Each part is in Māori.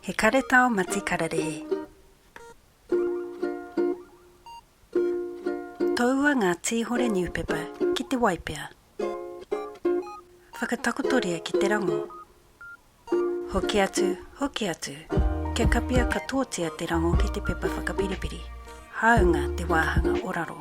He karetao mati kararehe. Toua ngā tīhore niupepa ki te waipea. Whakatakotoria ki te rango. Hoki atu, hoki atu, kia kapia katoatia te rango ki te pepa whakapiripiri, hāunga te wāhanga o raro.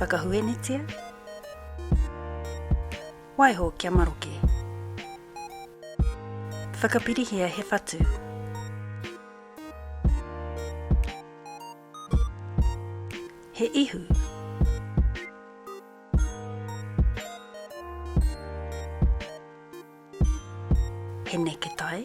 Whakahuenetia Waiho kia maroke Whakapirihia he whatu He ihu He neketai